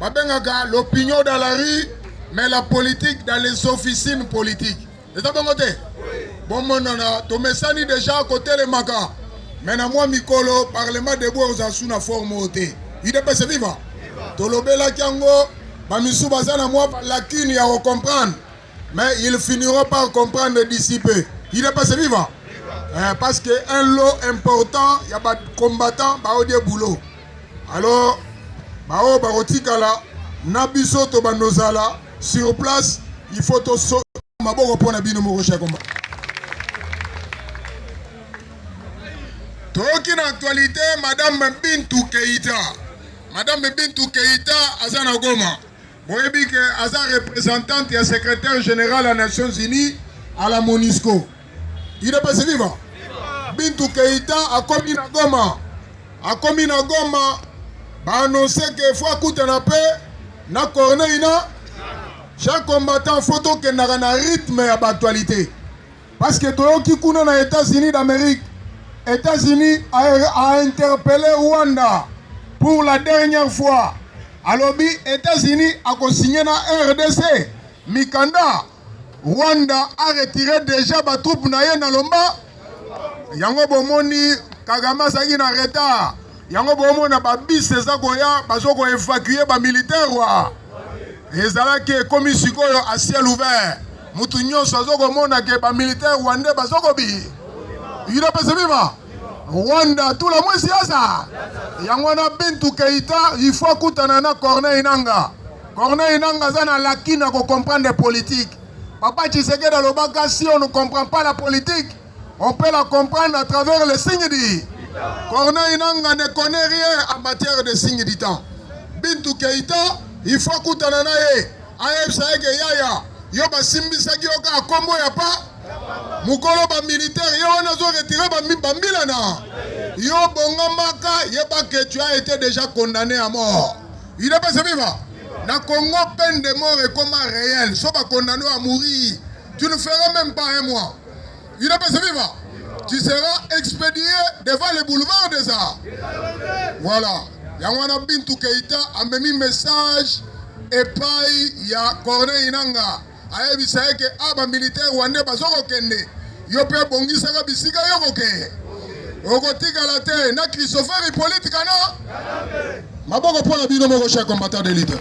babengaka l'opinion dans la rue mais la politique dans les officines politiques eza bongo te bomonana tomesani deja kotelemaka me na mwa mikolo parlement debout ekozala su na forme oyo te udps viva tolobelaki yango bamisu baza na mwa lacune ya kocomprendre mais ils finiront par comprendre d'ici peu udps viva eh, parce que un lot important ya bacombattant baodie boulot Alors baoyo bakotikala na biso tobanda ozala sur place il faut toso maboko mpo na bino moko chakomba toyoki na actualité madame bintu keita madame bintu keita aza na goma Boyebi ke aza representante ya secretaire general ya Nations Unies à la Monisco. Il est passé viva. Bintu Keita akomi na Goma. Akomi na Goma ba annonce ke faut akutana pe na Corneille na chaque combattant faut tokendaka na rythme ya ba actualité. Parce que toyoki kuna na Etats-Unis d'Amerique, Etats-Unis a, a interpellé Rwanda pour la dernière fois. Alobi Etats-Unis a signé na RDC mikanda Rwanda a retiré déjà ba troupes na ye na lomba. Yango bomoni Kagame azalaki na retard. yango bomona ba bus eza koya bazo ko evacuer ba militaire wa ezalaki ekomi sikoyo a ciel ouvert mutu nyonso azo komona ke ba militaire rwandais bazo kobi udps bima rwanda tula mwesi yasa yango wana bintu keita il faut akutana na corneille nanga corneille nanga aza na lakina kocomprendre politique papa tshisekedi alobaka si on ne comprend pas la politique On peut la comprendre à travers les signes dits. Corneille Nanga ne connaît rien en matière de signes du temps. Bintu Keita, il faut kutana na ye. ayebisa ye ke yaya yo basimbisaki yo kaka nkombo ya pa mokolo bamilitaire ye wana azoretire bambila na yo bongamaka yeba ke tu as été déjà condamné à mort il est pas viva na congo peine de mort ekoma réel so bakondamne à mourir tu ne feras même pas un mois UDPS viva! Tu seras expédié devant le boulevard des Arts. Voilà. yango wana bintu keita amemi message epai ya corneille nanga ayebisa ye ke a bamilitaire wande bazokokende yo mpe bongisaka bisika yo kokeye okotikala te na christopher hippolite kana maboko mpo na bino moko cher combattant de leader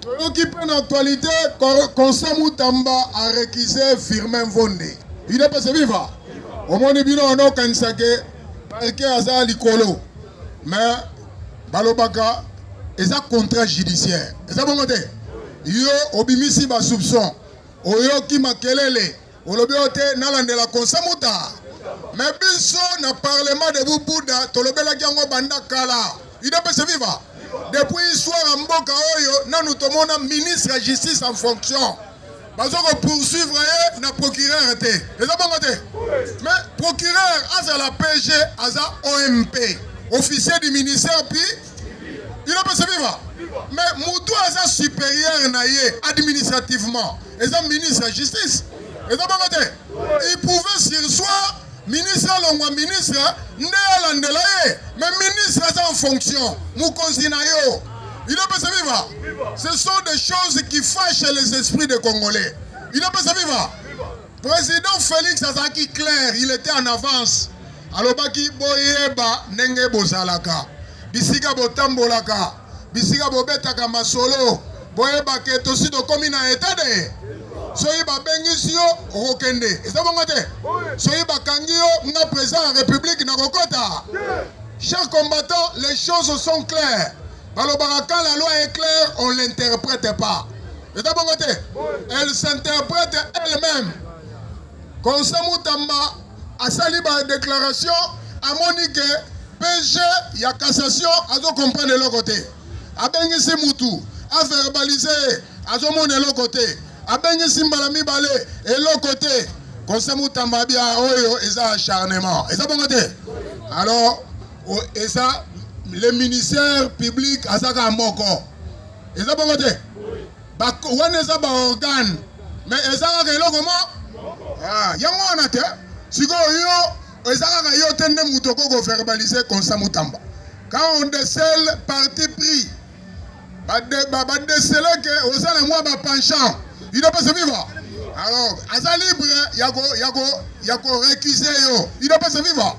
toyoki mpe na actualité constant mutamba arekise firmin mvonde ide pese viva omoni bino wana okanisa ke parke aza likolo mais balobaka eza contrat judiciaire eza bongo te yo obimisi basoupçon oyoki makelele Olobi oyo te nalandela konse muta me biso na parlement de bubuda tolobelaki yango banda kala idepese viva depuis histoire ya mboka oyo nanu tomona ministre ya justice en fonction bazo ko poursuivre ye na procureur te eza bongo te mais procureur azala pg aza omp officier du ministère puis idepese viva mais mutu aza supérieur na ye administrativement eza ministre ya justice eza bongo te il pouvait sur soi ministre alongwa ministre nde alandela ye me ministre aza en fonction mokonzi na yo inopesa viva ce sont des choses qui fâchent les esprits des congolais inopesa viva président félix azalaki clair il était en avance alobaki boyeba ndenge bozalaka bisika botambolaka bisika bobetaka masolo boyeba ke tosi tokomi na etat de soki babengisi yo okokende eza bongo te soki bakangi yo nga président ya république nakokota chers combattants les choses sont claires balobaka quand la loi est claire on l'interprète pas eza bongo te elle s'interprète elle-même konsa mutamba asali ba declaration amoni ke PG ya cassation azo comprendre eloko te abengisi mutu averbalise ye azomona eloko te abengisi mbala mibale eloko te conseil mutamba bia oyo eza acharnement eza bongo te alors eza le ministère public azaka moko eza bongo te Ba, wana eza ba organe me eza kaka eloko mo ah, yango wana te sikoyo yo eza kaka yo te nde moto oko koverbalise konsa mutamba quand on decele parti pris badesele ke oza na mwa bapenchant il doit pas se vivre alors aza libre ya ko ya ko ya ko recuse yo il doit pas se vivre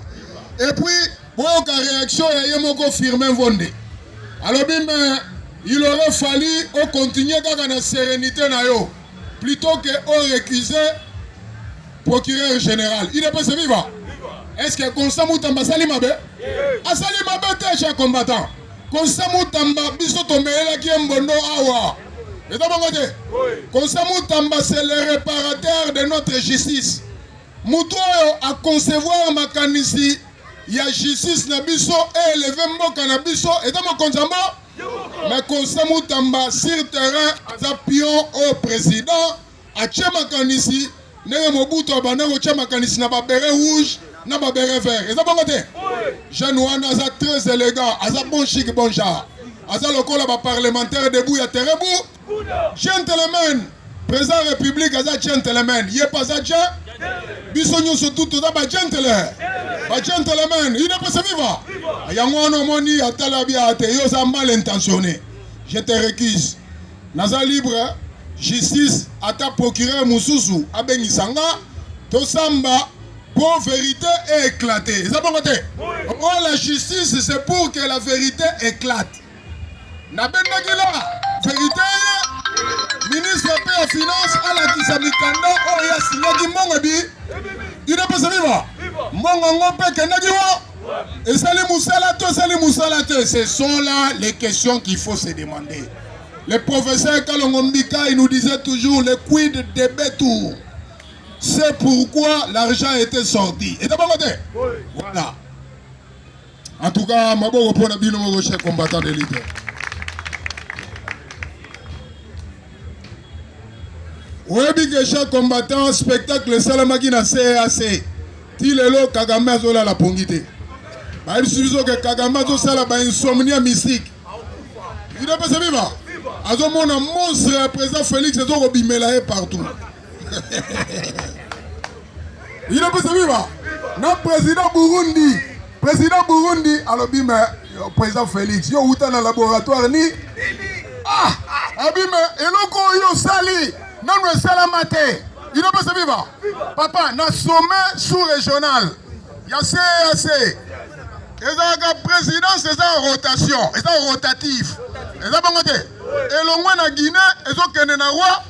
et puis Boyoka reaction ya ye moko Firmin Vonde. Alobi mais il aurait fallu o continuer kaka na serenité na yo plutôt que o recuser procureur général. Il est pas viva. Est-ce que Constant Moutamba asali mabe? Asali mabe te cher combattant. Constant Moutamba biso tomelelaki ye mbondo awa. Eza bongo te? Constant Moutamba c'est le réparateur de notre justice. Mutu oyo a concevoir makanisi ya justice na biso e eleve mboka na biso eza mokonzi ya mboka mais constant mutamba sur terrain aza pion oyo président atye makanisi ndenge mobutu abanda kotya makanisi na babere rouge na babere vert eza bongo te jeune wana aza très élégant aza bon chic bon genre aza lokola baparlementaire debu ya terebu Gentleman, president ya republique aza gentleman, ye pa aza gen biso nyonso tu toza ba gentle ba gentleman inapesa viva yango wana omoni atala bia te yo oza mal intentionné je te récuse naza libre justice ata procureur mosusu abengisa nga tosamba pour vérité éclate eza bongo te oh la justice c'est pour que la vérité éclate nabendaki la verite ye ministre mpe ya finance alakisa mikanda oyo asinyaki mbongo ebi idepesa viva mbongo yango mpe ekendaki wa esali mosala to esali mosala te ce sont là les questions qu'il faut se demander le professeur kalongo mbika il nous disait toujours le quid de betour c'est pourquoi l'argent était sorti etabango te voilà En tout cas, maboko mpo na bino moko chef combattant de leader. oyebi ke chef combattant spectacle esalamaki na cac ti lelo kagame azolala pongi te bayebisi biso ke kagame azosala bainsomnia mystique idepesa biba azomona monstre ya président félix ezokobimela ye partout ino pesa biba na président burundi président burundi alobi me euh, président félix yo outa na laboratoire ni ah abi me eloko oyo osali nanu esalama te ino pesa biba papa na sommet sous régional ya cac ezalaka présidence eza rotation eza rotative eza bango te elongwe na guinée ezokende na roi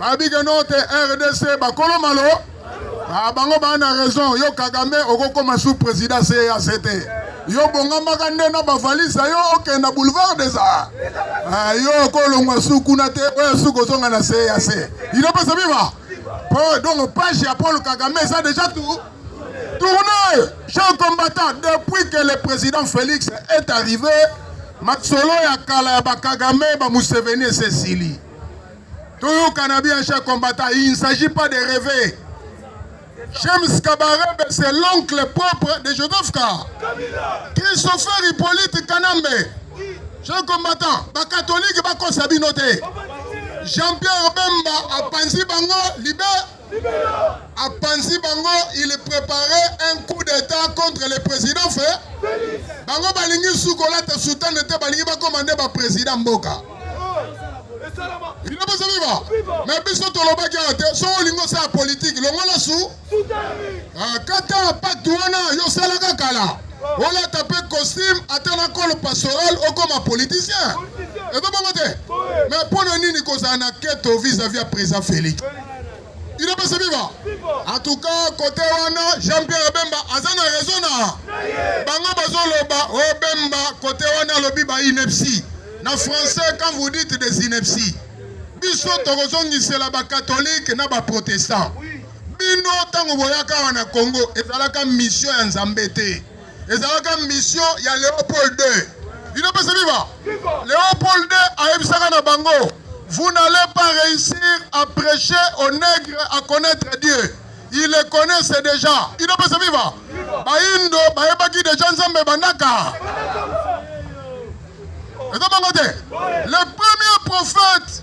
babike no te rdc bakolo malo ah, bango baa na raison yo kagame okokoma sous président cac te yo bongamaka nde na bavalise na yo okenda boulevard des arts ah, yo okolongwa su kuna te oyo su kozonga na cac inopesa biba po donc page ya paul kagame eza déjà tout tourne chers combattants depuis que le président félix est arrivé masolo ya kala ya bakagame bamuseveni esesili toyokana bien cher combattant il ne s'agit pas de rêver James Kabarebe c'est l'oncle propre de Joseph Ka Christopher Hippolyte Kanambe cher combattant bakatolike bakosa bino te Jean-Pierre Bemba apanzi bango libe apanzi bango il prepare un coup d'état contre le président fe bango balingi su kolata soutane te balingi bakoma nde baprésident mboka bino boza biba me biso tolobaki awa te so olingi osala politike longola su ah, kata pacte wana yo osalaka kala olata mpe costume ata na kolo pastoral okoma politicien ezo bongo te me mpo na nini kozala na keto vis-à-vis ya président félix Il est passé viva. En tout cas, côté wana, Jean-Pierre Bemba, azana raison na. Bango bazo loba, oh Bemba, côté wana lobi ba inepsi. Na français, quand vous dites des inepsi. Biso tokozongisela ba catholique na ba protestant. Bino tango boyaka wana Congo, ezalaka mission ya Nzambe te. ezalaka mission ya Leopold II bino pesa viva Leopold II ayebisaka na bango vous n'allez pas réussir à prêcher aux nègres à connaître Dieu il le connaissait déjà bino pesa viva bayindo bayebaki deja nzambe bandaka eza bango te le premier prophète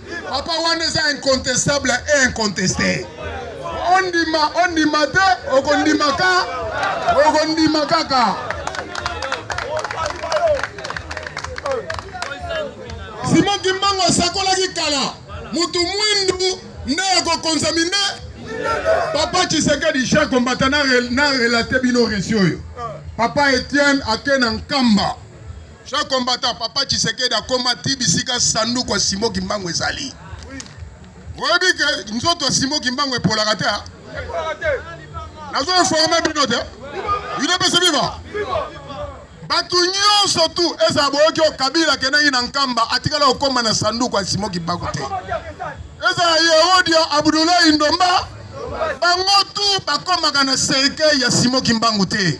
Papa wana eza incontestable et inconteste. Ondima ondima te okondima ka okondima kaka. Simon Kimbangu asakolaki kala mutu mwindu nde akokonza mine. Papa Tshisekedi Jean Kombata na relate bino resi oyo. Papa Etienne ake na Nkamba. Ce combattant papa Tshisekedi akoma ti bisika sanduku ya Simon Kimbangu ezali. Oyebi ke nzoto ya Simon Kimbangu epolaka te. Nazo informe bino te. Bino pese viva. Bato nyonso tu ezala boyoki oyo Kabila akendaki na Nkamba atikala kokoma na sanduku ya Simon Kimbangu te. Ezala Yehodia Abdoulaye Ndomba bango tu bakomaka na cercueil ya Simon Kimbangu te.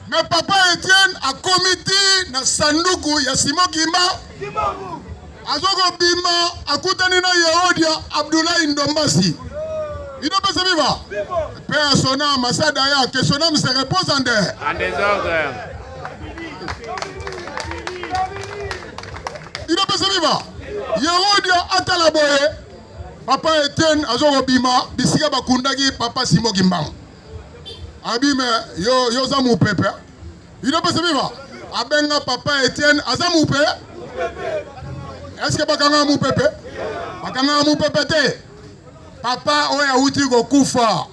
Mais papa Etienne akomi ti na sanduku ya Simon Kimba. Azoko bima akutani na Yehodia Abdoulaye Ndombasi. Il doit passer vivant. Paix à son âme, à sa d'ailleurs, que son âme se repose en dehors. En désordre. Il doit passer vivant. Yehodia atala boye. Papa Etienne azoko bima bisika bakundaki papa Simon Kimbangu. Abime yo yo za mupepe. Hein? Il doit passer vivre. Abenga papa Etienne aza mupe. Est-ce que bakanga mupepe? Bakanga mupepe te. Papa oyo awuti kokufa.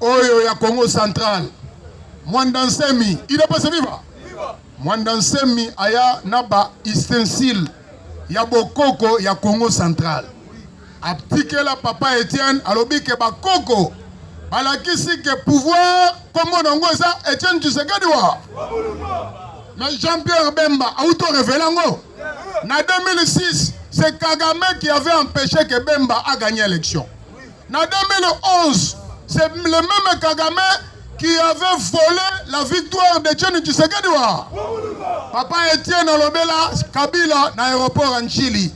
Oyo ya Congo central. Mwanda Nsemi, il doit passer vivre. Mwanda Nsemi aya na ba ustensile ya bokoko ya Congo central. Atikela papa Etienne alobi ke ba koko balakisi ke pouvoir kombo na ngo eza Etienne Tshisekedi wa mais Jean-Pierre Bemba auto révélé ngo na 2006 c'est Kagame qui avait empêché que Bemba a gagné l'élection. En 2011, c'est le même Kagame qui avait volé la victoire de Tcheni Tshisekediwa. Papa Etienne Olobela, Kabila, na aéroport en Chili.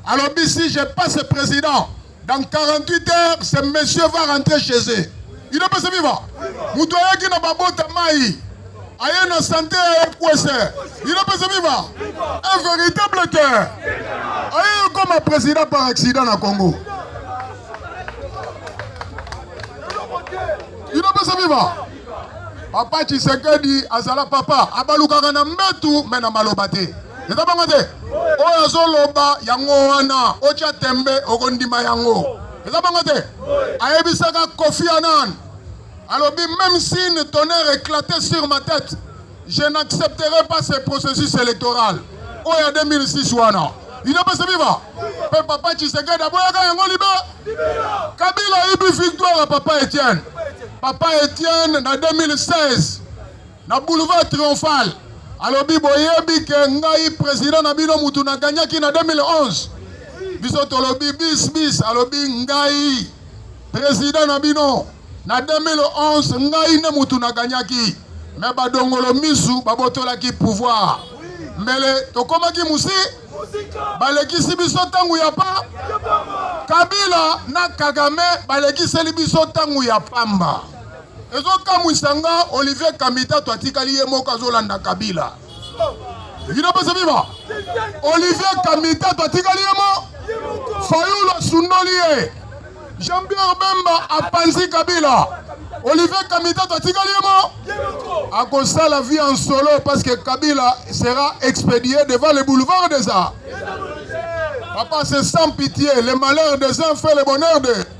Alobi si je passe president dans 48 heures ce monsieur va rentrer chez eux. Il est passé vivant. Moto ayaki na babota mai aye na sante ya ekwese il est passé vivant. Un véritable cœur. Aye comme président par accident na Congo. Il est passé vivant. Papa Tshisekedi azala papa abalukaka na mbetu me na maloba te. eza bango te oyo azoloba yango wana otya tembe okondima yango eza bango te ayebisaka kofi anan alobi même si une tonnerre éclaté sur ma tête je n'accepterai pas ce processus électoral oyo ya 2006 wana inopesa viva mpe papa tshisekedi aboyaka yango libe kabila ayibi victoire ya papa etienne papa etienne na 2016 na boulevard triomphal alobi boyebi ke ngai president na bino mutu na gagnaki na 2011 biso tolobi bis bis alobi ngai president na bino na 2011 ngai nde mutu na gagnaki me badongolo misu babotolaki pouvoir mbele tokomaki musi balekisi biso ntango ya pa kabila na kagame balekiseli biso ntango ya pamba Ezo kamwisa nga Olivier Kamita to atikali ye moko azolanda Kabila. Vino pesa viva. Olivier Kamita to atikali ye moko. Fayulu asundoli ye. Jean-Pierre Bemba apanzi Kabila. Olivier Kamita to atikali ye moko. Akosala vie en solo parce que Kabila sera expédié devant le boulevard des Arts. Papa, c'est sans pitié. Le malheur des uns fait le bonheur des.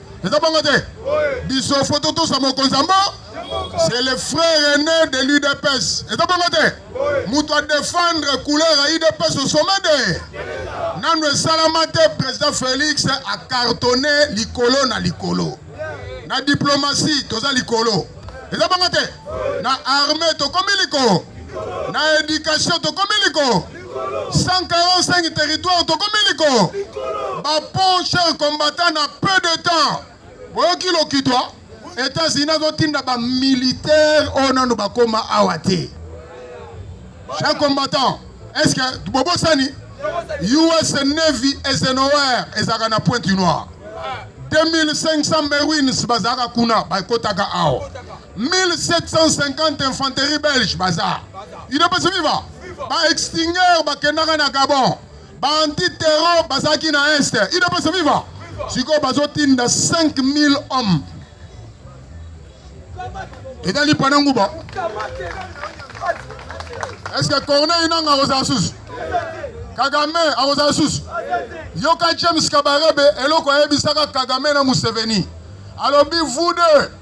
eza bongo te biso fo totosa mokonzi yango c'est le frère aîné de l'udps eza bongo te moto adefendre couleur ya udps au sommet de nano esalama te président félix acartonne likolo na likolo na diplomatie toza likolo eza bongo te na armée tokomi likolo na éducation tokomi likolo 145 territoire tokomi likolo bapont cher combattant na peu de temps boyoki lokitwa etats-unis azotinda bamilitaire oyo nano bakoma awa te cher combattant est ce que bobosani us navy esenower ezalaka na pointe noire 2500 marines bazalaka kuna bakotaka awa 1750 infanterie belge baza idepesi viva baextinger bakendaka na gabon baantiterro bazalaki na est idepesi viva sikoyo bazotinda 5000 homme etali pana nguba eske corneille nanga akozala susu kagame akozala susu yoka james kabarebe eloko ayebisaka kagame na museveni alobi vous deux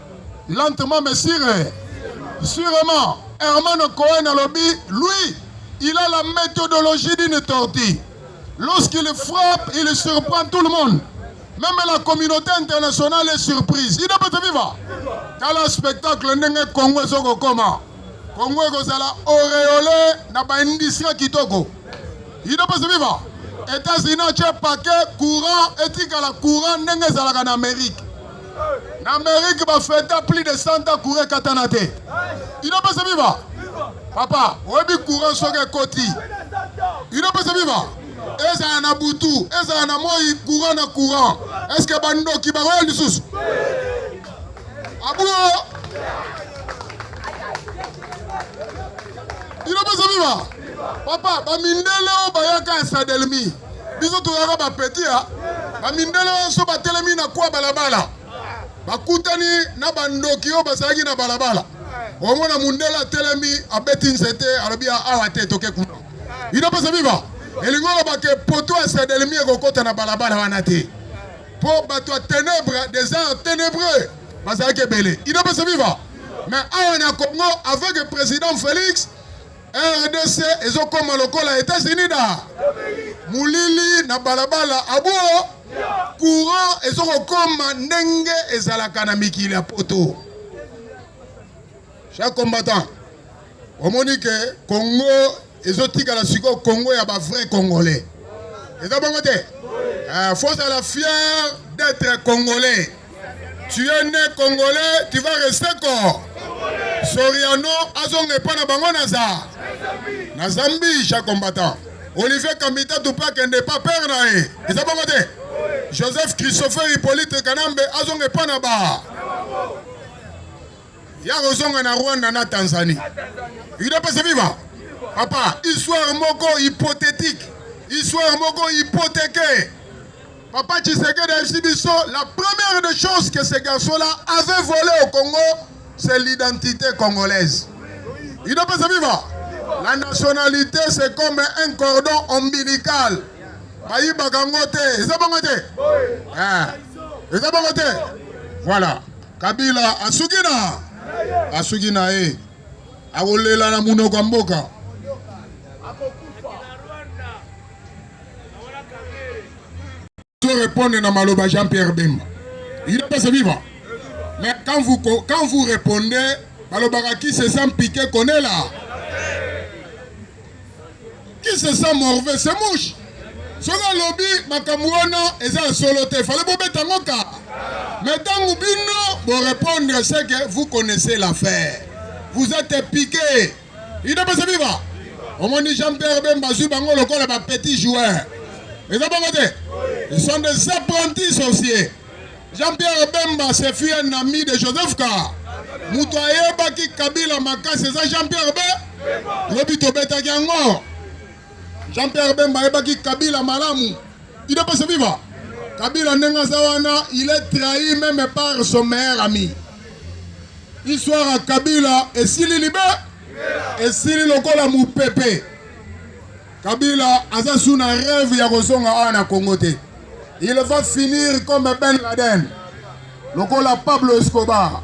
Lentement mais sire, sûrement, Hermano Cohen alobi, lui, il a la méthodologie d'une tortue. Lorsqu'il frappe, il surprend tout le monde. Même la communauté internationale est surprise. Il peut te vivre. Dans le spectacle, ndenge Congo ezoko koma. Congo ekozala auréolé na ba industrie kitoko. Il peut te vivre. États-Unis atye paquet courant etikala courant ndenge ezalaka na Amérique. Na Amerique ba feta plus de 100 ans courant katana te. Inapesa viva. Papa, oyebi courant soki ekoti. Inapesa viva. Ezala na butu, ezala na moi courant na courant. Est-ce que bandoki bakoya lisusu? Abulo. Inapesa viva. Papa, ba mindele oyo bayaka ya Sadelmi. biso toyaka bapeti ya bamindele nyonso batelemi na kwa balabala bakutani na bandoki oyo bazalaki na balabala omona mundele atelemi abeti nzete alobi ah, awa te toke kuna ino pesa biba elingi oloba ke poto ya sadelemi ekokota na balabala wana te mpo bato ya tenebre des arts tenebreux bazalaki ebele ino pesa biba mais awa na congo avec président félix rdc ezokoma lokola etats-unis da molili na balabala abo courant ezokokoma ndenge ezalaka na mikili ya poto chaque combattant omoni ke congo ezotikala sikoyo congo ya bavrai congolais eza bongo te eh, faut ozala fier d'être congolais Tu es né congolais, tu vas rester corps. Soriano azonga epa na bango naza na Zambie cha combattant. Olivier Kamita Tupa kende pa père na ye. Eza bango te. Joseph Christopher Hippolyte Kanambe azonga epa na ba. Ya kozonga na Rwanda na Tanzanie. Yuda pesa viva. Papa, histoire moko hypothétique. Histoire moko hypothéquée. Papa Tshisekedi ayebisi biso la première des choses que ce garçon là avait volé au Congo c'est l'identité congolaise. Il doit pas se vivre. La nationalité c'est comme un cordon ombilical. Bayibaka ngo te, eza bongo te? Eh. Eza bongo te? Voilà. Kabila asuki na asuki na ye akolela na munoko ya mboka. Je répondre na maloba Jean-Pierre Bemba. Il est passé vivant. Mais quand vous, quand vous répondez, malobaka qui se sent piqué connaît là. Qui se sent morvé, c'est mouche. soki alobi makambo wana eza ya solo te fale bobeta yango ka me ntango bino borépondre seke vous connaissez l'affaire vous êtes piqué idepese viva omoni jean pierre bemba azwi bango lokola ba petit joueur eza bongo te ils sont des apprentis sorciers jean pierre bemba se fut un ami de joseph ka moto ayebaki kabila makasi eza jean pierre be lobi tobetaki yango Jean Pierre Bemba ayebaki Kabila malamu. Il est passé viva. Kabila ndenge aza wana, il est trahi même par son meilleur ami. Histoire ya Kabila esili libe esili lokola mopepe. Kabila aza sous na rêve ya kozonga awa na Congo te. Il va finir comme Ben Laden lokola Pablo Escobar.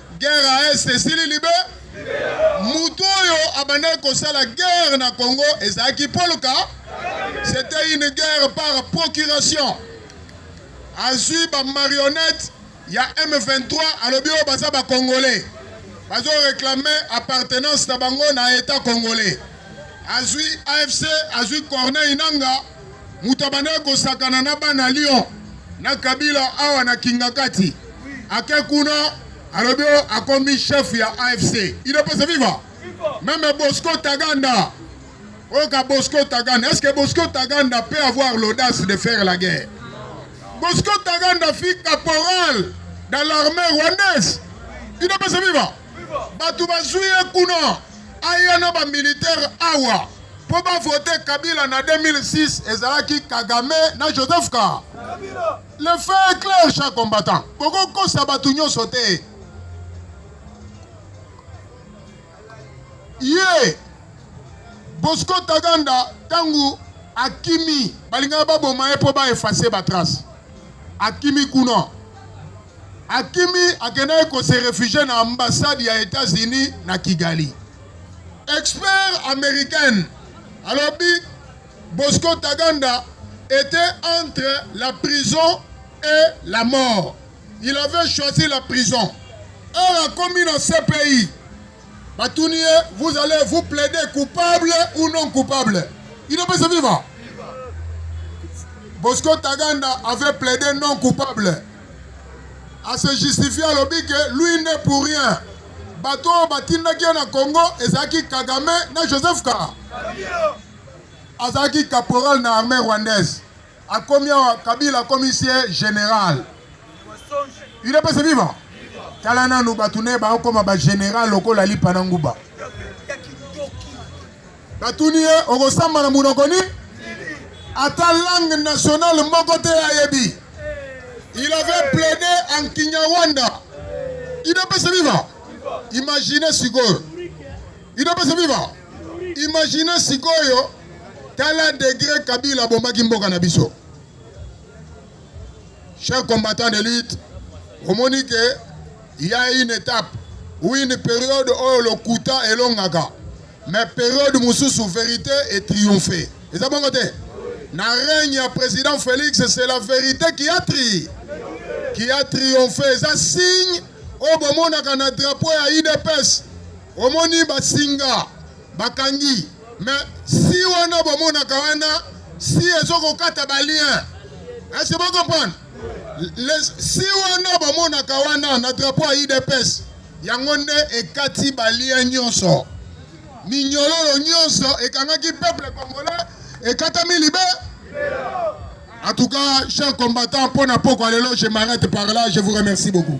Guerre à Est esili libe. Mutu oyo abandaki kosala guerre na Congo ezalaki Paul Ka. C'était une guerre par procuration. Azui ba marionnettes ya M23 alobi oyo baza ba Congolais. Bazo réclamer appartenance na bango na État congolais. Azui AFC, azui Corneille Nanga. moto abandaki kosakana na bana Lyon na Kabila awa na Kingakati, ake kuna alobi akomi chef ya AFC idepese viva meme Bosco Taganda oyoka Bosco Taganda est-ce que Bosco Taganda peut avoir l'audace de faire la guerre Bosco Taganda fut caporal dans l'armée rwandaise idepese viva bato bazwi ye kuna aya na bamilitaire awa mpo bavote kabila na 2006 ezalaki kagame na joseph ka le fait clair cha combattant bokokosa bato nyonso te ye bosco taganda ntango akimi balingaka baboma ye mpo baefase batrace Akimi kuna. Akimi akendaki ko se refugier na ambassade ya Etats-Unis na Kigali. Expert américaine alobi Bosco Taganda était entre la prison et la mort. Il avait choisi la prison. Heure akomi na CPI batuni ye vous allez vous plaider coupable ou non coupable inopesa viva bosco taganda avait plaidé non coupable à se justifier alobi ke lui nde pour rien bato oyo batindaki ye na congo ezalaki kagame na joseph ka azalaki caporal na armée rwandaise Akomi awa Kabila akomi sie general. Udps viva. Tala nanu bato ne baokoma ba general lokola lipa na nguba. Batuni ye okosamba na monoko nini? Ata langue nationale moko te ayebi. Il avait plaidé en Kinyarwanda. Udps viva. Imaginez sikoyo. Udps viva. Imaginez sikoyo. Tala degre Kabila abomaki mboka na biso. Chers combattants de lutte, omoni ke ya une étape ou une période oyo lokuta elongaka mais période mosusu verité est triomphe eza bongo te na règne ya président félix c'est la vérité qui a tri qui a triomphe eza signe oyo bomonaka na drapeau ya udps omoni basinga bakangi mais si wana bomonaka wana si ezokokata balien ese eh, bocomprendre si wana bomonaka wana na drapo ya idps yango nde ekati balien nyonso minyololo nyonso ekangaki peuple congolais ekatami libe en tout cas cher combattant mpo na pokwa lelo je m'arrête par là je vous remercie beaucoup